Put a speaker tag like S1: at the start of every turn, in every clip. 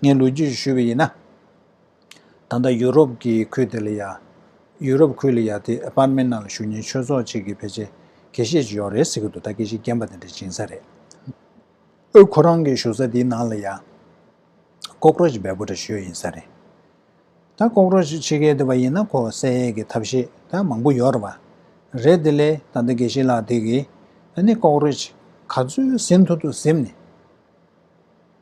S1: ངས་ལོ་རྒྱུས་སུ་ཞུས་པ་ཡིན་ན། ད་ལྟ་ཡུ་རོབ་ཀྱི་ཁུལ་དེ་ལ་ཡ། ཡུ་རོབ་ཁུལ་ལ་ཡ་དེ་པར་མའི་ནང་ལ་བཞུགས་ཉིན་ཆོས་ཚོགས་གཅིག་གི་ཕལ་ཆེར་དགེ་བཤེས་གཅིག་ཡོང་རེད་ཟེར་གྱི་འདུག་ད་དགེ་བཤེས་རྒན་པ་དེ་འདྲ་སྦྱིན་ས་རེད། ཨོའི་ཁོ་རང་གི་བཞུགས་ས་དེའི་ནང་ལ་ཡ། Cockroach འབའ་པོ་འདྲ་བཞུགས་ཡིན་ས་རེད། ད Cockroach ཕྱི་རྒྱལ་དུ་བ་ཡིན་ན་ཁོ་བསད་ཡས་ཀྱི་ཐབས་ཤེས་ད་མང་པོ་ཡོད་རེད་བ། རེད་དེ་ལས་ད་ལྟ་དགེ་བཤེས་ལགས་དེ་གིས་ཨ་ནི Cockroach ག་ཚོད་ཟིན་ཐུབ་ཐུབ་གཟིམས་ནས།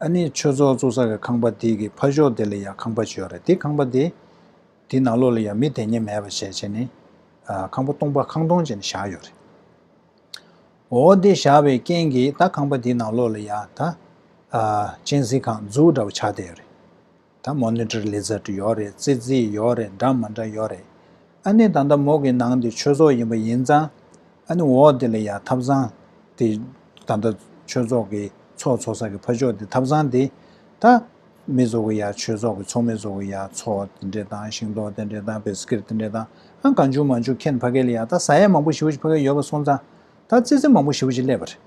S1: ཨ་ནི་ཆོས་ཚོགས་གཙོ་ས་གའི་ཁང་པ་དེ་གི་ཕ་ཤོག་དེ་ལ་ཡང་ཁང་པ་བྱོས་རེད་དེ་ཁང་པ་དེ་དེ་ནང་ལོགས་ལ་ཡང་མི་དེ་ཉེ་མེད་པ་བྱས་བྱས་ནི་ཁང་པ་སྟོང་པ་ཁང་སྟོང་བྱས་ནི་བཞག་ཡོད་རེད་འོ་དེ་བཞག་པའི་རྐྱེན་གི་ད་ཁང་པ་དེ་ནང་ལོགས་ལ་ཡང་ད་ཨ་ཅན་གཟིགས་ཁང་འཛུགས་འདྲ་བ་བྱ་བསྡད་ཡོད་རེད། ད་མོ་ནི་ཏྲི་ལི་ཛ་ཏྲི་ཡོག་རེད་ཙི་ཙི་ཡོག་རེད་འདྲ་མ་འདྲ་ཡོག་རེད་ཨ་ནི་ད་ལྟ་མོ་གི་ནང་དེ་ཆོས་ཚོགས་ཡིན་པ་ཡིན་ཙང་ཨ་ནི་འོག་དེ་ལ་ཡ་ཐབ་ཚང་དེ་ད་ལྟ་ཆོས་ཚོགས་གི་ཚོགས་ཚོགས་ས་གི་ཕ་ཆོག་དེ་ཐབ་ཚང་དེ་ད་མི་ཚོགས་གི་ཡ་ཆོས་ཚོགས་གི་ཚོགས་མི་ཚོགས་གི་ཡ་ཚོགས་དེ་འདྲེ་དང་ཤིང་ཏོག་དེ་འདྲེ་དང་བེ་སི་ཀིར་དེ་འདྲེ་དང་ཨ་གང་བྱུང་མ་བྱུང་ཁྱེད་ཕ་གི་ལ་ཡ་ད་བཟའ་ཡ་མང་པོ་ཞིབ་པོ་ཞིག་ཕ་གི་ཡོད་པ་སོང་ཙང་ད་ཙི་ཙི་མང་པོ་ཞིབ་པོ་ཞིག་སླེབས་པ་རེད།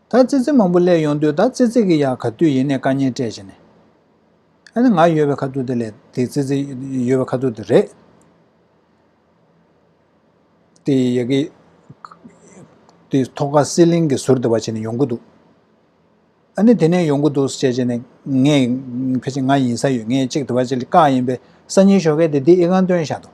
S1: ད་ཙི་ཙི་མང་པོ་གླས་ཡོང་དུས་ད་ཙི་ཙི་གི་ཡག་ག་དུས་ཡིན་ནས་དཀའ་ཉེན་སྤྲད་བྱས་ནས་ཨ་ནི་ང་ཡོད་པའི་ཁ་ཐུག་དེ་ལས་དེ་ཙི་ཙི་ཡོད་པའི་ཁ་ཐུག་དེ་རེད་དེ་ཡག་གི་དེ་ཐོག་ཁ་སི་ལིང་གི་ཟུར་དེ་བ་བྱས་ནས་ཡོང་གི་འདུག་ཨ་ནི་དེ་ནས་ཡོང་གི་འདུག་བྱས་བྱས་ནས་ངས་ཕལ་ཆེར་ང་ཡིན་ས་ཡོད་ངས་གཅིག་དེ་བ་བྱས་ལ་དཀའ་ཡིན་པས་སང་ཉིན་ཞོགས་ཁས་དེ་དེ་ཨི་ཁང་སྟོན་བཞག་འདུག།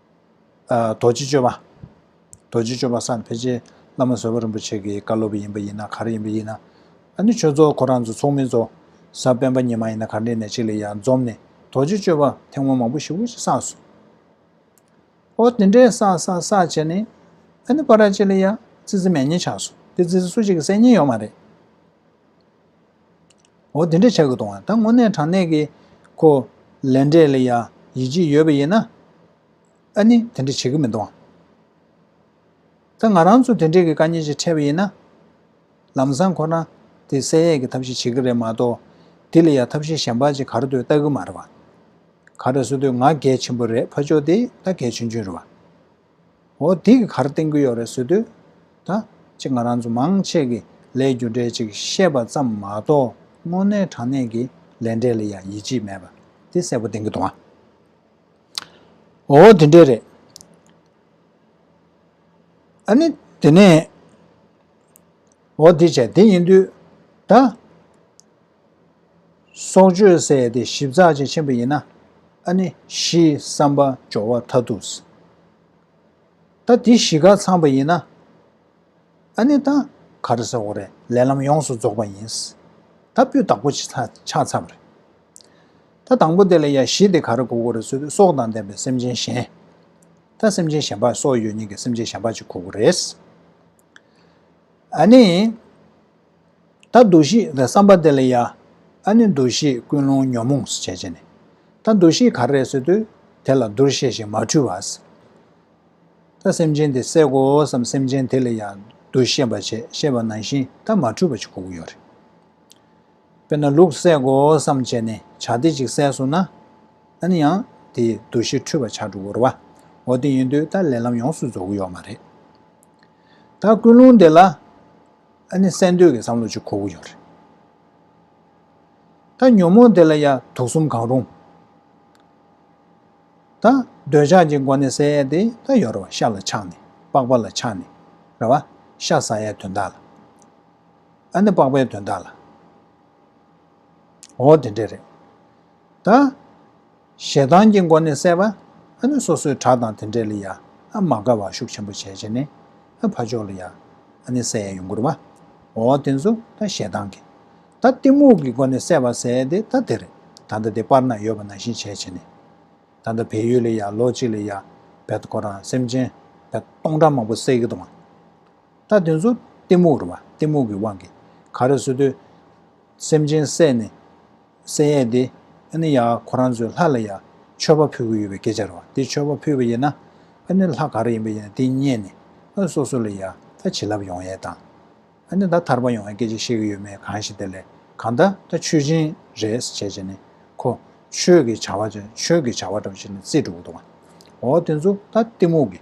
S1: རྡོ་རྗེ་སྤྱོད་པ། རྡོ་རྗེ་སྤྱོད་པ་བསམ་འཕེལ་རྗེ་བླ་མ་བཟོད་པ་རིན་པོ་ཆེ་གི་བཀའ་སློབ་ཡིན་པ་ཡིན་ན་གར་ཡིན་པ་ཡིན་ན། ཨ་ནི་ཆོས་ཚོགས་ཁོ་རང་ཚོ་ཚོགས་མི་ཚོ། ས་སྤེན་པ་ཉི་མ་ཡིན་ན་གར་འདྲེ་ནས་ཅིག་ལ་ཡང་འཛོམས་ནས་རྡོ་རྗེ་སྤྱོད་པ་ཐེངས་མང་མང་པོ་ཞིག་འུ་ཅི་བསགས་སོ། ཨོ་དེ་འདྲའི་བསགས་བསགས་བསགས་བྱས་ནས། ཨ་ནི་པ་ར་ཅིག་ལ་ཡང་ཙི་ཙི་མས་ཉེས་ཆགས་སོ་དེ་ཙི་ཙི་སུ་གཅིག་གི་སེམས་ཉེན་ཡོད་མ་རེད། འོ་དེ་འདྲ་བྱ་དགོས་དང་ད་དངོས་གནས་དྲང་གནས་ཀྱི་ཁོ་ལས་འབྲས་ལ་ཡ་ཡིད་ཆེས་ཡོད་པ་ཡིན་ན་ཨ་ནི་དེ་འདྲ་བྱེད་ཀྱི་མི་འདུག་ད་ང་རང་ཚོ་དེ་འདྲས་ཀྱི་དཀའ་ཉེན་ཞིག་འཕྲད་པ་ཡིན་ན་ལམ་སང་ཁོ་རང་དེ་གསལ་ཡས་ཀྱི་ཐབས་ཤེས་བྱེད་ཀྱི་རེད་མ་གཏོགས་དེ་ལ་ཡ་ཐབས་ཤེས་གཞན་པ་ཅིག་ག་རེ་འདོད་བལྟ་གི་མ་རེད་བ། ག་རེ་སུ་འདོད་ང་གལ་ཆེན་པོ་རེད་ཕ་ཕྱོགས་དེ་ད་གལ་ཆུང་ཆུང་རེད་བ། འོ་དེ་གི་གར་བསྟན་གི་ཡོད་རེད་བཟོས་དུས་ད་ཅི་ང་རང་ཚོ་མང་ཆེ་གི་ལས་རྒྱུ་འབྲས་ཅིག་ཤེས་པ་ཙམ་མ་གཏོགས་དངོས་གནས་དྲང་གནས་ཀི་ལས་འབྲས་ལ་ཡང་ཡིད་ཆེས་མེད་པ་དེ་གསལ་པོ་བསྟན་གི་འདུག་ཨ་འོ་དེ་འདྲས་རེད་ཨ་ནི་དེ་ནས་འོ་དེ་བྱས་དེ་ཡིན་དུས་ད། སྲོག་གཅོད་བསད་དེ་ཞིབ་ཚགས་ཅན་ཆེན་པོ་ཡིན་ན། ཨ་ནི་གཞིའི་བསམ་པ་སྦྱོར་བ་མཐའ་ཐུག། ད་དེ་གཞི་ག་ཚང་པ་ཡིན་ན། ཨ་ནི་ད་ག་རེ་ས་འོ་རེད་ལས་ལམ་ཡོངས་སུ་རྫོགས་པ་ཡིན། ད་སྤུས་དག་པོ་ཆགས་མཚམས་རེད། ད་དང་པོ་དེ་ལ་ཡ་གཞི་དེ་ག་རེ་གོ་གོ་རེད་ཚུལ་དུ་སྲོག་དང་ལྡན་པའི་སེམས་ཅན་གཞན། ད་སེམས་ཅན་གཞན་པ་སྲོག་ཡོད་ཉིད་ཀྱི་སེམས་ཅན་གཞན་པ་ཅིག་གོ་གོ་རེད། ཨ་ནི། ད་འདུ་ཤེས་དང་བསམ་པ་དེ་ལ་ཡ། ཨ་ནི་འདུ་ཤེས་ཀུན་སློང་ཉོན་མོངས་སུ་བྱས་བྱས་ནས། ད་འདུ་ཤེས་ག་རེ་སོད་དུས་དེ་ལ་བསྡུར་ཤེས་ཤིང་མ་འཁྲུལ་བ། སི། ད་སེམས་ཅན་དེ་བསད་གོ་བསམ་སེམས་ཅན་དེ་ལ་ཡ། འདུ་ཤེས་པ་བྱས་ཤེས་པ་ནང་བཞིན་ད་མ་འཁྲུལ་བ་ཅིག་གོ་གོ་ཡོད་རེད། དཔེར་ན་ལུག་བསད་གོ་བསམ་བྱས་ནས་བྱ་སྡེ་ཅིག་བསད་སོང་ན། ཨ་ནི་ཡང་དེ་འདུ་ཤེས་འཁྲུལ་བ་ཆགས་འགྲོ་གོ་རེད་བ། འོ་དེ་ཡིན་དུས་ད་ལས་ལམ་ཡོངས་སུ་རྫོགས་གོ་ཡོད་མ་རེད། ད་ཀུན་སློང་དེ་ལ། ཨ་ནི་གསལ་འདོད་ཀྱི་བསམ་བློ་ཅིག་ཁོ་བོ་ཡོད་རེད། ད་ཉོན་མོངས་དེ་ལ་ཡང་དུག་གསུམ་གང་རུང། ད་འདོད་ཆགས་ཀྱི་སྒོ་ནས་བསལ་ཡས་དེ་ད་ཡོད་རེད་བ་ཤ་ལ་ཆགས་ནས་པགས་པ་ལ་ཆགས་ནས་རེད་བ་ཤ་ཟ་ཡས་དོན་དག་ལ། ཨ་ནི་པགས་པའི་དོན་དག་ལ། འོ་དེ་འདྲས་རེད། ད། ཞེ་སྡང་གི་སྒོ་ནས་བསལ་བ། ནི་སོ་སོའི་གྲགས་དང་དེ་འདྲས་ལ་ཡ། མ་དགའ་བ་ཤུགས་ཆེན་པོ་བྱས་བྱས་ནས། ཕ་ཕྱོགས་ལ་ཡ། ནི་བསལ་ཡས་ཡུངས་ཀུར་བ། འོ་དེ་ཚོ་ད་ཞེ་སྡང་གི། ད་གཏི་མུག་གི་སྒོ་ནས་བསལ་བ་བསལ་ཏེ་ད་དེར། ད་ལྟ་དེ་པར་ན་ཡོད་པ་ན་བཞིན་བྱས་བྱས་ནས། ད་ལྟ་བལ་ཡུལ་ལ་ཡ་ལོ་གཅིག་ལ་ཡ། བལ་དུ་ཁོ་རང་སེམས་ཅན། བལ་སྟོང་ཕྲག་མང་པོ་བསལ་གི་དང། ད་དེ་ཚོ་གཏི་མུག་རུ་བ་གཏི་མུག་གི་དབང་གིས་ག་རེ་བཟོ་དུས། སེམས་ཅན་བསལ་ནས། གསལ་ཡས་ཏེ། ཨ་ནི་ཡང་ཁོ་རང་ཚོའི་ལྷ་ལ་ཡང་མཆོད་པ་ཕུལ་གྱི་ཡོད་པའི་སྐད་ཆ་རེད་བ། དེ་མཆོད་པ་ཕུལ་བ་ཡིན་ན། ཨ་ནི་ལྷ་ག་རེ་ཡིན་པ་ཡིན་ན་དེ་རྙེད་ནས་ཨ་སོ་སོ་ལ་ཡ་ད་བྱིན་རླབས་ཡོང་ཡས་དང། ཨ་ནི་ད་ཐར་པ་ཡོང་ཡས་སྐད་ཆ་བཤད་གི་ཡོད་མེད་གང་ཞིག་དེ་ལས་གང་ད་ད་མཆོད་སྦྱིན་རེད་བྱས་བྱས་ནས་ཁོ་ཆོས་ཀྱི་བྱ་བ་བྱས་ཆོས་ཀྱི་བྱ་བ་འདྲ་བ་བྱས་ནས་རྩིས་འགྲོ་གི་འདུག་བ། འོ་དེ་ཚོ་ད་གཏི་མུག་གི།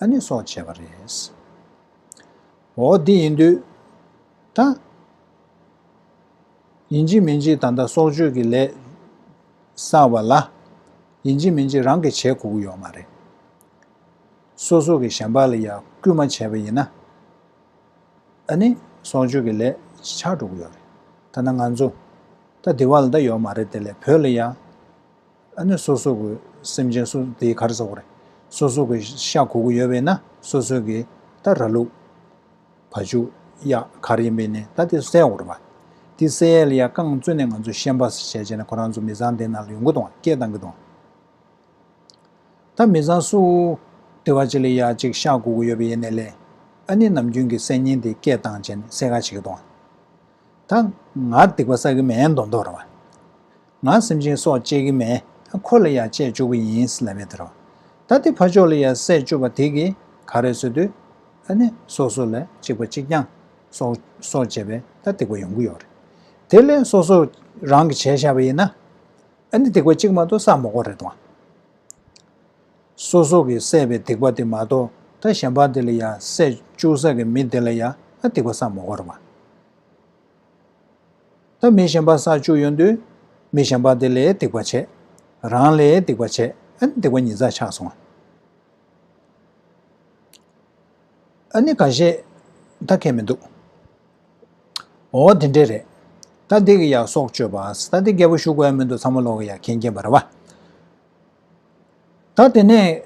S1: ཨ་ནི་སོགས་བྱས་པ་རེད། འོ་འདི་ཡིན་དུས་ད། ཡིན་གཅིག་མིན་གཅིག་ད་ལྟ་སྲོག་གཅོད་ཀྱི་ལས་བསགས་པ་ལ། ཡིན་གཅིག་མིན་གཅིག་རང་གིས་བྱེད་དགོས་ཀྱི་ཡོད་མ་རེད། སོ་སོ་གིས་གཞན་པ་ལ་ཡར་སྐུལ་མ་བྱས་པ་ཡིན་ན། ཨ་ནི་སྲོག་གཅོད་ཀྱི་ལས་ཆགས་འགྲོ་གི་ཡོད་རེད། ཐ་ན་ང་ཚོ་ད་དེ་བ་ལ་ད་ཡོད་མ་རེད་དེ་ལས་བོད་ལ་ཡར། ཨ་ནི་སོ་སོ་གི་སེམས་ཅན་སུ་དེའི་གར་ཟ་གོ་རེ། སོ་སོ་གི་ཤ་གོ་གི་ཡོད་པས་ན་སོ་སོ་གི་ད་ར་ལུག། བ་ཆུ། གཡག་གར་ཡིན་པས་ནི་ད་དེ་བསད་གོ་རེ་བ། དེ་བསད་ཡ་རྐང་བཙུད་ནས་ང་ཚོ་ཤན་པ་ཟས་བྱས་ནས་ཁོ་རང་ཚོ་མི་ཚང་དེ་ནང་ལ་ཡོང་གི་དང་སྐད་བཏང་གི་དང། ད་མི་ཚང་སུ། དེ་བ་ཅི་ལས་ཡ་ཅིག་ཤ་གོ་གི་ཡོད་པས་ཡེ་ནས་ལས། ཨ་ནི་ནམ་རྒྱུན་གི་བསད་ཉེན་དེ་སྐད་བཏང་བྱས་ནས་བསད་ག་བྱེད་གི་དང། ད་ང་སྡིག་པ་བསགས་ཀྱི་མེད་མདོག་མདོག་རེད་བ། ང་སེམས་ཅན་སྲོག་བཅད་ཀྱི་མེད་ད་ཁོ་ལ་ཡང་བཅད་བཅུག་པ་ཡིན་ལབ་པའི་དེ་རོ། ད་དེ་ཕ་ཆོག་ལ་ཡང་བསད་བཅུག་པ་དེ་གིས་ག་རེ་བཟོས་དུས། ཨ་ནི་སོ་སོ་ལ་གཅིག་པ་གཅིག་རྐྱང་སྲོག་སྲོག་བཅད་པས་ད་སྡིག་པ་ཡོང་གི་ཡོད་རེད། དེ་ལས་སོ་སོ་རང་གིས་བྱས་བཞག་པ་ཡིན་ན། ཨ་ནི་སྡིག་པ་གཅིག་མ་གཏོགས་བསགས་མ་གོ་རེད་བ། སོ་སོ་གི་བསད་པའི་སྡིག་པ་དེ་མ་གཏོགས་ད་གཞན་པ་དེ་ལ་ཡང་བསད་བཅུག་ས་གི་མི་དེ་ལ་ཡང་སྡིག་པ་བསགས་མ་གོར་བར། ད་མི་གཞན་པ་བསགས་བཅུག་ཡོང་དུས། མི་གཞན་པ་དེ་ལས་སྡིག་པ་བྱས། རང་ལས་སྡིག་པ་བྱས་ཨ་ནི་སྡིག་པ་ཉིས་བརྩེགས་ཆགས་སོང། ཨ་ནི་ག་བྱེད་ད་མཁས་མི་འདུག། འོ་དེ་འདྲས་རེད། ད་འདི་གི་ཡག་སྲོག་གཅོད་པ་ད་འདི་རྒད་པོ་ཞུ་དགོས་ཡ་མི་འདུག་ཚང་མ་ལོག་གི་ཡ་མཁན་རྐྱེན་པ་རེད་བ། ད་དེ་ནས་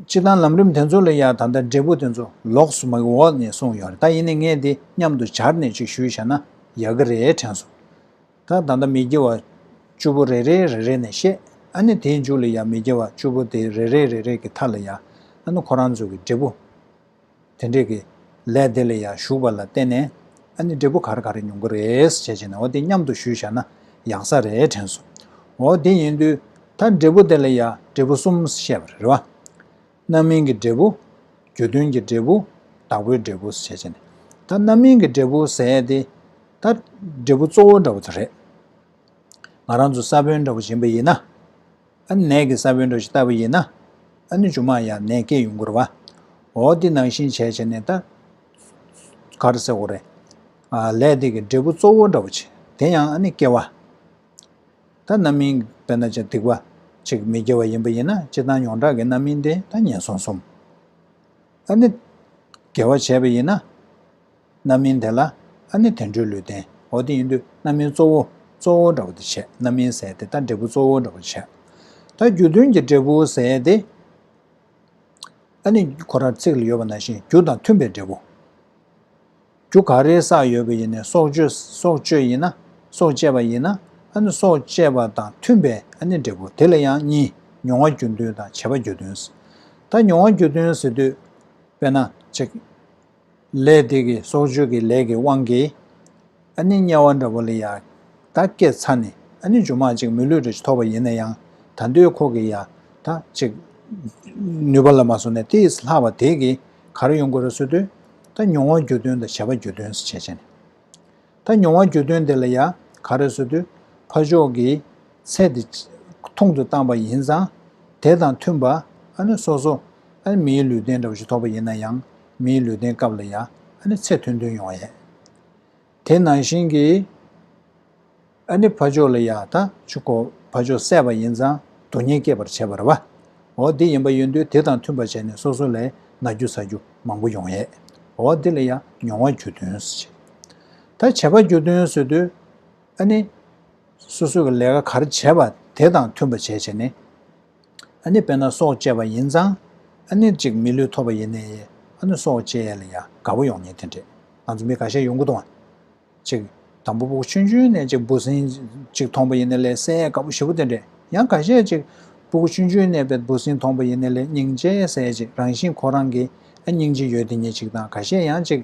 S1: ཕྱི་དང་ལམ་རིམ་དེ་ཚོ་ལ་ཡང་ད་ལྟ་འབྲས་བུ་དེ་ཚོ་ལོགས་སུ་མ་གི་འོག་ནས་གསུངས་ཡོད་རེད་ད་ཡིན་ནས་ངས་འདི་མཉམ་དུ་སྦྱར་ནས་ཅིག་ཞུས་བྱས་ན་ཡག་གི་རེད་དྲན་སོང། ད་ད་ལྟ་མི་དགེ་བ་བཅུ་པོ་རེ་རེ་རེ་རེ་ནས་བཤད་ཨ་ནི་དེའི་མཇུག་ལ་ཡང་མི་དགེ་བ་བཅུ་པོ་དེ་རེ་རེ་རེ་རེ་གི་མཐའ་ལ་ཡང་ཨ་ནི་ཁོ་རང་ཚོ་གི་འབྲས་བུ། དེ་འདྲས་ཀྱི། ལས་དེ་ལ་ཡང་བཞུགས་པ་ལ་བརྟེན་ནས། ཨ་ནི་འབྲས་བུ་གར་ག་རེ་མྱོང་གི་རེད་བྱས་བྱས་ནས་འོ་དེ་སྙམ་དུ་ཞུས་བཞག་ན་ཡག་ས་རེད་དྲན་སོང། འོ་དེ་ཡིན་དུས་ད་འབྲས་བུ་དེ་ལ་ཡང་འབྲས་བུ་གསུམ་བཤད་པ་རེད། རྣམ་སྨིན་གྱི་འབྲས་བུ། རྒྱུ་མཐུན་གྱི་འབྲས་བུ། བདག་པོའི་འབྲས་བུ་བྱས་བྱས་ནས། ད་རྣམ་སྨིན་གྱི་འབྲས་བུ་ཟེར་དེ། ད་འབྲས་བུ་གཙོ་བོ་འདྲ་བོ་དེ་རེད། ང་རང་ཚོ་ས་བོན་འདྲ་བོ་བྱིན་པ་ཡིན་ན། ནད་ཀྱི་ས་བོན་གྲོ་ཞིག་ལྟ་བུ་ཡིན། ཨ་ནུ་ཅུང་མ་ཡང་ནད་སྐྱེད་ཡུན་འགོར་བ། འོ་འདི་ནང་བཞིན་བྱས་བྱས་ནས་ད། གར་སེ་འོ་རེ། ལས་འདི་གི་འབྲས་བུ་གཙོ་བོ་འདྲ་བོ་ཆེ་དེ་ཡང་ཨ་ནི་སྐྱེ་བ། ད་རྣམ་སྨིན་བས་ན་ཅི་སྡིག་བ། ཅིག་མི་སྐྱེ་བ་ཡིན་པ་ཡིན་ན་སྤྱི་དང་ཡོངས་གྲགས་ཀྱི་རྣམ་སྨིན་དེ་ད་ངན་སོང་གསུམ། ཨ་ནི། དགེ་བ་བྱས་པ་ཡིན་ན། རྣམ་སྨིན་དེ་ལ་ཨ་ནི་དེ་འཕྲོས་ལུས་རྟེན་འོ་དེ་ཡིན་དུས་རྣམ་སྨིན་གཙོ་བོ་གཙོ་བོ་འདྲ་བོ་དེ་བྱས་རྣམ་སྨིན་ཟས་དེ་ལྟ་འབྲས་བུ་གཙོ་བོ་འདྲ་བོ་བྱས། ད་རྒྱུ་མཐུན་གྱི་འབྲས་བུ་ཟས་དེ་ཨ་ནི་གོ་ར་ཚིག་ལ་ཡོད་པ་ན་བཞིན་རྒྱུ་དང་མཐུན་པའི་འབྲས་བུ། རྒྱུ་ག་རེའི་ས་ཡོད་པ་ཡིན་ནས་སྲོག་གཅོད་སྲོག་གཅོད་ཡིན་ན་སྲོག་བཅད་པ་ཡིན་ན་ཨ་ནི་སྲོག་བཅད་པ་དང་མཐུན་པའི་ཨ་ནི་འབྲས་བུ་དེ་ལ་ཡང་གཉིས་མྱོང་བ་རྒྱུ་མཐུན་དང་བྱེད་པ་རྒྱུ་མཐུན། ད་མྱོང་བ་རྒྱུ་མཐུན་ཟེར་དུས་དཔེར་ན་བྱེད། ལས་དེ་གི་སྲོག་གཅོད་ཀྱི་ལས་ཀྱི་དབང་གིས། ཨ་ནི་དམྱལ་བ་འདྲ་བོ་ལ་ཡང་ད་སྐད་ཚ་ནི་ཨ་ནི་ཇོ་མ་ཅིག་མི་ལུས་རེ་ཐོབ་པ་ཡིན་ན་ཡང་ད་འདོད་ཁོ་གི་ཡང་ད་ཅིག། ནུས་པ་ལ་མ་སོང་ནས་དེས་ལྷག་པ་དེས་གིས་གར་ཡོང་དགོས་ར་སོད་དུས། ད་མྱོང་བ་རྒྱུ་དོན་དང་བྱ་བ་རྒྱུ་དོན་ཟེར་བྱས་བྱས་ནས། ད་མྱོང་བ་རྒྱུ་དོན་དེ་ལ་ཡང་ག་རེ་བཟོ་དུས་ཕ་ཕྱོགས་ཀྱི་ཚད་དེ་ཐུང་དུ་བཏང་པ་ཡིན་ཙང་དེ་དང་མཐུན་པ་ཨ་ནི་སོ་སོ་ཨ་ནི་མིའི་ལུས་རྟེན་འདྲ་བོ་ཞིག་ཐོགས་པ་ཡིན་ན་ཡང་མིའི་ལུས་རྟེན་སྐབས་ལ་ཡང་ཨ་ནི་ཚད་མཐུན་མཐུན་ཡོང་བ་ཡིན། དེ་ནང་བཞིན་གྱི་ཨ་ནི་ཕ་ཕྱོགས་ལ་ཡང་ད་ཆུ་ཁོ་ཕ་ཕྱོགས་སད་པ་ཡིན་ཙང་དུ་ཉེན་སྐྱེད་པར་བྱེད་པར་བ་འོ་དེ་ཡིན་པ་ཡིན་དུས་དེ་དང་མཐུན་པ་བྱས་ནས་སོ་སོ་ལས་ན་རྒྱུ་ཟ་རྒྱུ་མང་པོ་ཡོང་ཡས་འོ་དེ་ལ་ཡང་མྱོང་བ་རྒྱུ་དོན་ཟེར། ད་བྱ་བ་རྒྱུ་དོན་བཟོས་དུས། ཨ་ནི། སོ་སོ་གི་ལས་ཀ་ག་རེ་བྱས་པ་དེ་དང་མཐུན་པ་བྱས་བྱས་ནས། ཨ་ནི་དཔེར་ན་སྲོག་བཅད་པ་ཡིན་ཙང། ཨ་ནི་ཅིག་མི་ལུས་ཐོབ་པ་ཡིན་ནས། ཨ་ནི་སྲོག་བཅད་ཡས་ལ་ཡ་དགའ་བོ་ཡོང་ཉེན་དེ་འདྲས། ང་ཚོ་མི་ག་ཤས་ཡོང་གི་འདུག་ཨ། ཅིག། དང་པོ་སྦུག་ཆུན་ཆུན་ནས་ཅིག་འབུ་སྲིན། ཅིག་མཐོང་པ་ཡིན་ནས་ལས་སད་ཡས་དགའ་བོ་ཞེ་བོ་དེ་འདྲས། ཡང་ག་ཤས་ཅིག། སྦུག་ཆུན་ཆུན་ནས་བས་འབུ་སྲིན་མཐོང་པ་ཡིན་ནས་ལས་སྙིང་རྗེ་ཡས་སད་ཅིག་རང་བཞིན་ཁོ་རང་གི། ཨ་སྙིང་རྗེ་ཡོད་དེ་ཉིད་ཅིག་དང་ག་ཤས་ཡང་ཅིག།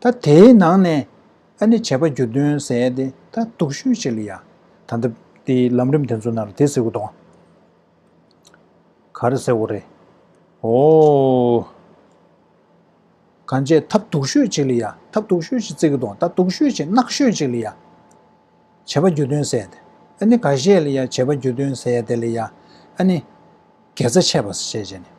S1: ད་དེའི་ནང་ནས་ཨ་ནི་བྱས་པ་རྒྱུ་དོན་ཟད་དེ་ད་སྡུག་ཤོས་ཅིག་ལ་ཡ། ད་ལྟ་དེ་ལམ་རིམ་དེ་ཚོ་ནར་དེ་ཟེར་དགོས་དོ། ག་རེ་ཟེར་དགོས་རེད། ཨོ། གང་བྱས་ཐབས་སྡུག་ཤོས་ཅིག་ལ་ཡ་ཐབས་སྡུག་ཤོས་ཅིག་བརྩི་གི་དོ་ད་སྡུག་ཤོས་ཅིག་གནག་ཤོས་ཅིག་ལ་ཡ། བྱས་པ་རྒྱུ་དོན་ཟད་དེ་ཨ་ནི་ག་བྱས་ལ་ཡ་བྱས་པ་རྒྱུ་དོན་ཟད་དེ་ལ་ཡ། ཨ་ནི། དགེ་རྩ་ཆད་པ་ཟེར་བྱས་བྱས་ནས།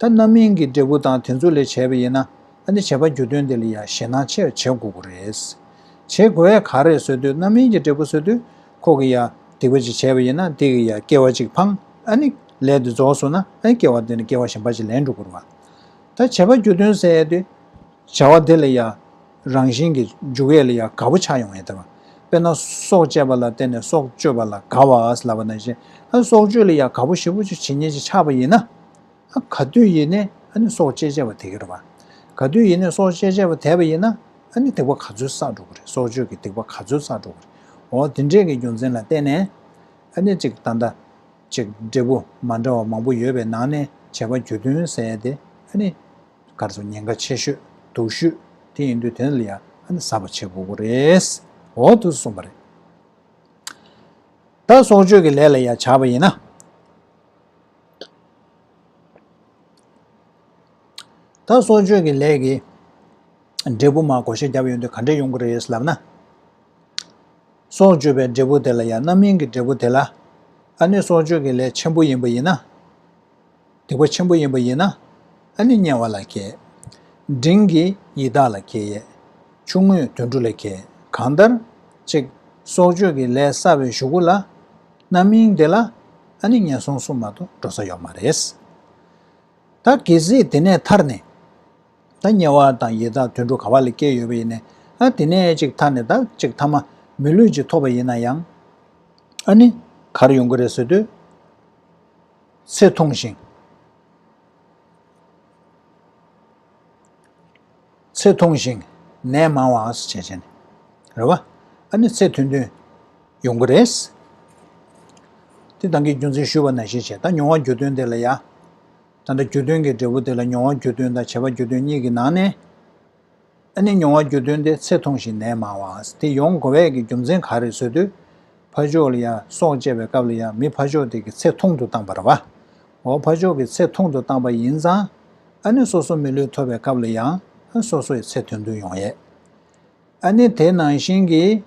S1: ཐ་རྣམ་སྨིན་གྱི་འབྲས་བུ་དང་དེ་ཚོ་ལས་བྱས་པ་ཡིན་ན། ཨ་ནི་བྱེད་པ་རྒྱུ་དོན་དེ་ལ་ཡང་ཞེད་སྣང་ཆེར་བྱེད་དགོས་ཀྱི་རེད། བྱེད་དགོས་བས་ག་རེ་བཟོས་དུས་རྣམ་སྨིན་གྱི་འབྲས་བུ་བཟོས་དུས། ཁོ་གི་ཡང་སྡིག་པ་ཅིག་བྱས་པ་ཡིན་ན་སྡིག་གི་ཡང་སྐྱེ་བ་ཅིག་འཕངས་ཨ་ནི། ལས་དེ་རྫོགས་སོང་ན་ཨ་ནི་སྐྱེ་བ་དེ་ནི་སྐྱེ་བ་གཞན་པ་ཅིག་ལེན་འགྲོ་དགོས་རེད། ད་བྱེད་པ་རྒྱུ་དོན་ཟེར་ཡས་དུས། བྱ་བ་དེ་ལ་ཡང་རང་བཞིན་གྱིས་འཇུག་ཡས་ལ་ཡང་དགའ་བོ་ཆགས་ཡོང་ཡས་དེ། དཔེར་ན་སྲོག་བཅད་པ་ལ་བརྟེན་ནས་སྲོག་གཅོད་པ་ལ་དགའ་བ་ལ་བ་ན་བཞིན། ཨ་ནི་སྲོག་གཅོད་ལ་ཡང་དགའ་བོ་ཞི་བོ་ཅིག་བྱེད་ཉེས་ཅིག་ཆགས་པ་ཡིན་ན། ག་དུས་ཡིན་ནས་ཨ་ནི་སྲོག་བཅད་བྱས་པ་དེ་གར་བ། ག་དུས་ཡིན་ནས་སྲོག་བཅད་བྱས་པ་དེ་བ་ཡིན་ན་ཨ་ནི་སྡིག་པ་ག་ཚོད་བསགས་འགྲོ་གི་རེད་སྲོག་གཅོད་ཀྱི་སྡིག་པ་ག་ཚོད་བསགས་འགྲོ་གི་རེད་འོ་དེ་འདྲས་ཀྱི་རྒྱུ་མཚན་ལ་བརྟེན་ནས་ཨ་ནི་གཅིག་ད་ལྟ་གཅིག་འབྲས་བུ་མ་འདྲ་བ་མང་པོ་ཡོད་པའི་ནང་ནས་བྱས་པ་གྱོད་དོན་ཟེར་ཡ་དེ་ཨ་ནི་གར་སོང་ཉེན་ཁ་ཆེ་ཤོས་སྡུག་ཤོས་དེ་ཡིན་དུས་དེ་ལ་ཡང་ཨ་ནི་གཟབ་པ་བྱེད་དགོས་གི་རེད་འོ་དུ་གསུངས་པ་རེད། ད་སྲོག་གཅོད་ཀྱི་ལས་ལ་ཡ་བྱ་བ་ཡིན་ན། ད་གསོལ་མཆོད་ཀྱི་ལས་ཀྱི་འབྲས་བུ་མ་གོ་ཤེས་རྒྱབ་ཡོང་དུས་ག་འདྲས་ཡོང་གི་རེད་ལབ་ན། གསོལ་མཆོད་པའི་འབྲས་བུ་དེ་ལ་ཡང་རྣམ་སྨིན་གྱི་འབྲས་བུ་དེ་ལ། ཨ་ནི་གསོལ་མཆོད་ཀྱི་ལས་ཆེན་པོ་ཡིན་པ་ཡིན་ན། སྡིག་པ་ཆེན་པོ་ཡིན་པ་ཡིན་ན། ཨ་ནི་དམྱལ་བ་ལ་གས། འབྲིང་གི་ཡི་དྭགས་ལ་གས་ཡས། ཆུང་ངུས་དུད་འགྲོ་ལ་གས་གང་ལྟར། ཅིག། གསོལ་མཆོད་ཀྱི་ལས་བསགས་པའི་གཞུག་གུ་ལ། རྣམ་སྨིན་དེ་ལ་ཨ་ནི་ངན་སོང་གསུམ་མ་གཏོགས་འགྲོ་ས་ཡོད་མ་རེད། ད་གལ་སྲིད་དེ་ནས་ཐར་ནས་ད་དམྱལ་བ་དང་ཡི་དྭགས་དུད་འགྲོ་ག་བ་ལ་སྐྱེས་ཡོད་པ་ཡིན་ནས་ཨ་དེ་ནས་ཅིག་ཐར་ནས་ད་ཅིག་ཐ་མ་མི་ལུས་ཅིག་ཐོབ་པ་ཡིན་ན་ཡང་ཨ་ནི་གར་ཡོང་གི་རེད་ཟེར་དུས་ཚེ་ཐུང་ཞིང། ཚེ་མཐོང་ཞིང་ནད་མང་བ་ཨཱ་ཅེ་ཅེ་ནི། རེ་བ་ཨཱ་ནི་ཚེ་མཐུན་དོན་ཡོང་གི་རེད། དེ་དང་གི་རྒྱུ་མཚན་ཞུས་པ་ན་ཤེས་བྱེད་དང་མྱོང་བ་རྒྱུ་དོན་དེ་ལ་ཡ། ད་ལྟ་རྒྱུ་དོན་གྱི་འབྲས་བུ་དེ་ལ་མྱོང་བ་རྒྱུ་དོན་དང་བྱེད་པ་རྒྱུ་དོན་གཉིས་ཀྱི་ནང་ནས། ཨཱ་ནི་མྱོང་བ་རྒྱུ་དོན་དེ་ཚེ་མཐོང་ཞིང་ནད་མང་བ་ཨཱ་དེ་ཡོང་གི་བས་ཀྱི་རྒྱུ་མཚན་ག་རེ་བཟོས་དུས། ཕ་ཆོས་ལ་ཡ་སྲོག་བཅད་པའི་སྐབས་ལ་ཡ་མི་ཕ་ཆོས་དེ་གི་ཚེ་མཐོང་དུ་བཏང་བ་རེ་བ་ཨཱ་འོག་ཕ་མཆོག་གི་ཚེ་ཐུང་དུ་བཏང་པ་ཡིན་ཙང། ཨ་ནེ་སོ་སོ་མི་ལུས་ཐོབ་པའི་སྐབས་ལ་ཡང་ཨ་སོ་སོ་ཡི་ཚེ་དོན་དུ་ཡོང་ཡས། ཨ་ནེ་དེ་ནང་བཞིན་གྱིས།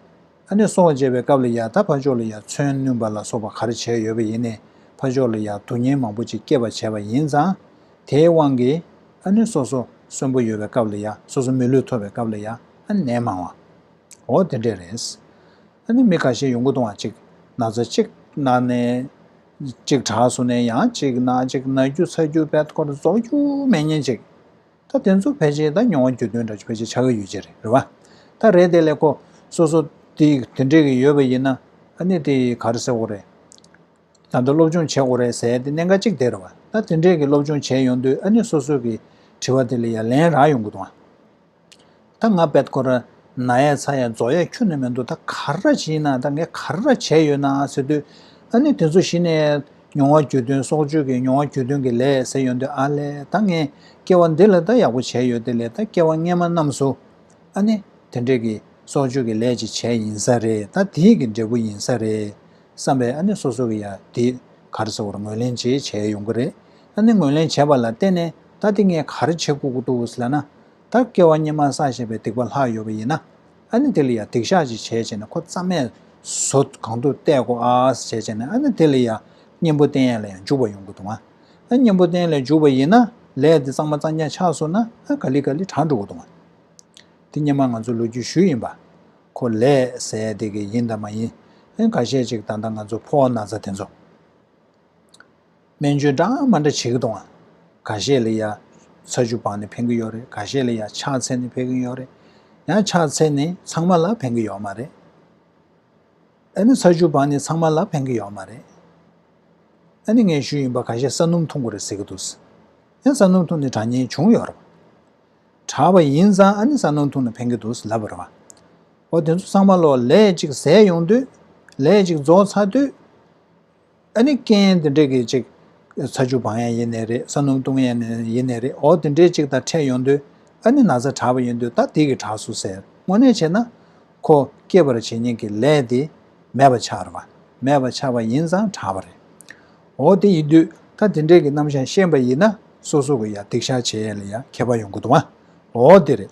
S1: ཨ་ནེ་སོང་བ་བརྗེད་པའི་སྐབས་ལ་ཡང་ད་ཕ་མཆོག་ལ་ཡང་མཚོན་བསྣུན་པ་ལ་སོགས་པ་གར་བྱས་ཡོད་པ་ཡིན་ནས་ཕ་མཆོག་ལ་ཡང་སྡུག་བསྔལ་མང་པོ་ཅིག་སྐྱེད་པར་བྱས་པ་ཡིན་ཙང། དེའི་དབང་གིས་ཨ་ནེ་སོ་སོ་གསོན་པོ་ཡོད་པའི་སྐབས་ལ་ཡང་སོ་སོ་མི་ལུས་ཐོབ་པའི་སྐབས་ལ་ཡང་ཨ་ནེ་མང་བ། འོ་དེ་འདྲས་རེད། ཨ་ནེ་མི་ག་ཤེད་ཡོང་གི་འདུག་ཨང་གཅིག་ན་ཚ་གཅིག་ན་ནད། གཅིག་གྲགས་སུ་ནས་ཡང་གཅིག་ན་གཅིག་ན་རྒྱུ་ཚ་རྒྱུ་བལ་སྐོར་རྫོགས་རྒྱུ་མེད་ཉིན་གཅིག། ད་དེ་ཚོ་ཕལ་ཆེར་ད་མྱོང་བ་རྒྱུ་དོན་འདྲ་ཕལ་ཆེར་ཆ་ག་ཡོད་ཅེས་རེད་རེད་བ། ད་རེད་དེ་ལས་ཁོ་སོ་སོ་དེ་དེ་འདྲས་ཀྱི་ཡོད་པ་ཡིན་ན་ཨ་ནི་དེ་གར་ཟེར་དགོས་རེད། ད་དེ་སློབ་སྦྱོང་བྱེད་དགོས་རེད་ཟེར་དེ་གནད་འགག་གཅིག་དེ་རེད་བ། ད་དེ་འདྲས་ཀྱི་སློབ་སྦྱོང་བྱས་ཡོང་དུས་ཨ་ནི་སོ་སོ་གི་དྲི་བ་དེ་ལ་ཡ་ལན་རག་ཡོང་དགོས་དང། ད་ང་པད་ཀོ་ར་ན་ཡ་ཚ་ཡ་རྫོགས་ཡ་ཁྱོད་ན་མི་འདུག་ད་ག་ར་བྱེད་ཡིན་ན་ད་ངས་ག་ར་བྱས་ཡོད་ན་ཟེར་དུས། ཨ་ནི་དེ་ཚོ་གཞི་ནས་མྱོང་བ་རྒྱུད་དོན་སྲོག་གཅོད་ཀྱི་མྱོང་བ་རྒྱུད་དོན་གྱི་ལས་ཟེར་ཡོང་དུས་ཨ་ལེ་ད་ངས་སྐྱེ་བ་འདི་ལ་ད་ཡག་པོ་བྱས་ཡོད་དེ་ལས་ད་སྐྱེ་བ་སྔན་མ་རྣམས་སུ་ཨ་ནི་དེ་འདྲས་ཀྱི་སྲོག་གཅོད་ཀྱི་ལས་ཅིག་བྱས་ཡིན་ས་རེད་ད་དེས་ཀྱི་འབྲས་བུ་ཡིན་ས་རེད་བསམ་པས་ཨ་ནི་སོ་སོ་གྱི་ཡ་དེ་ག་ར་ཟེར་བར་ངོས་ལེན་བྱེད་བྱས་ཡོང་གི་རེད་ཨ་ནི་ངོས་ལེན་བྱས་པ་ལ་བརྟེན་ནས། ད་དེ་ངས་ག་རེ་བྱེད་དགོས་ཀྱི་འདུག་ཟེར་ན། ད་སྐལ་བ་གཉིས་མ་བསགས་ཞེས་པའི་སྡིག་པ་ལྷག་ཡོད་པ་ཡིན་ན། ཨ་ནི་དེ་ལ་ཡང་སྡིག་བཤགས་ཅིག་བྱས་བྱས་ནས་ཁོ་རྩ་མེད་བཟོ་གང་ཐུབ་བལྟས་དགོ་ཨ་ཟེར་བྱས་ནས་ཨ་ནི་དེ་ལ་ཡང་གཉེན་པོ་བསྟེན་ཡས་ལ་ཡང་འཇུག་པ་ཡོང་གི་འདུག་ཨ་གཉེན་པོ་བསྟེན་ལས་འཇུག་པ་ཡིན་ན་ལས་དེ་གཙང་མ་གཙང་རྐྱང་ཆགས་སོང་ན་ཨ་ག་ལི་ག་ལི་དྲག་འགྲོ་གི་འདུག་ཨ་དེ་སྙེ་མ་ང་ཚོ་ལོ་རྒྱུས་ཞུས་ཡིན་པ་ཁོ་ལས་ཟས་བདེ་གི་ཡིན་དང་མ་ཡིན་ཨ་ག་ཤེད་ཅིག་ད་ལྟ་ང་ཚོ་ཕོ་ན་ཚ་དེ་ཚོ། སྨན་བཅོས་འདྲ་མ་འདྲ་བྱེད་ཀྱི་འདུག་ཨང། ག་ཤེད་ལ་ཡ། ཚ་ཆུ་བག་ནི་ཕན་གྱི་ཡོད་རེད་ག་ཤེད་ལ་ཡ་ཕྱག་འཚལ་ནི་ཕན་གྱི་ཡོད་རེད། ཡང་ཕྱག་འཚལ་ནི་ཚང་མ་ལ་ཕན་གྱི་ཡོད་མ་རེད། ཨ་ནི་ཚ་ཆུ་བག་ནི་ཚང་མ་ལ་ཕན་གྱི་ཡོད་མ་རེད། ཨ་ནི་ངན་ཤུལ་ཡིན་པ་ག་ཤེད་ས་སྣུམ་འཐུང་དགོས་རེད་ཟེར་གྱི་འདུག། ཡང་ས་སྣུམ་འཐུང་ནི་དྲག་ཉེན་བྱུང་ཡོད་རེད། དྲག་པ་ཡིན་ཙང་ཨ་ནི་ས་སྣུམ་འཐུང་ནི་ཕན་གྱི་འདུག་ལབ་རེད། འོ་དེ་ཚོ་ཚང་མ་ལོ་ལེགས་ཅིག་ཟས་ཡོང་དུས། ལེགས་ཅིག་རྫོགས་ཚར་དུས། ཨ་ནི་རྐྱེན་དེ་འདྲས་ཀྱི་ཅིག། ཚ་ཆུ་བང་ཡང་ཡེ་ནས་རེད་ས་སྣུམ་བཏུང་ཡང་ཡེ་ནས་རེད་འོ་དེ་འདྲས་ཅིག་ད་འཕྲད་ཡོང་དུས། ཨ་ནི་ན་བཟའ་གྲགས་པ་ཡོང་དུས་ད་དེ་གི་གྲགས་སོ་ཟེར་དངོས་གནས་བྱས་ན། ཁོ་སྐྱེས་པར་བྱེད་ཉེན་གྱི་ལས་དེ། མེད་པ་ཆགས་ར། མེད་པ་ཆགས་པ་ཡིན་ཙང་གྲགས་པ་རེད། འོ་དེ་ཡིན་དུས་ད་དེ་འདྲས་ཀྱི་རྣམ་བཞག་ཤེས་པ་ཡིན་ན་སོ་སོ་གི་ཡ་སྡིག་བཤགས་བྱེད་ཡ་ལ་ཡ་མཁས་པ་ཡོང་དགོས་འདུག་ཨ་འོ་དེ་རེད།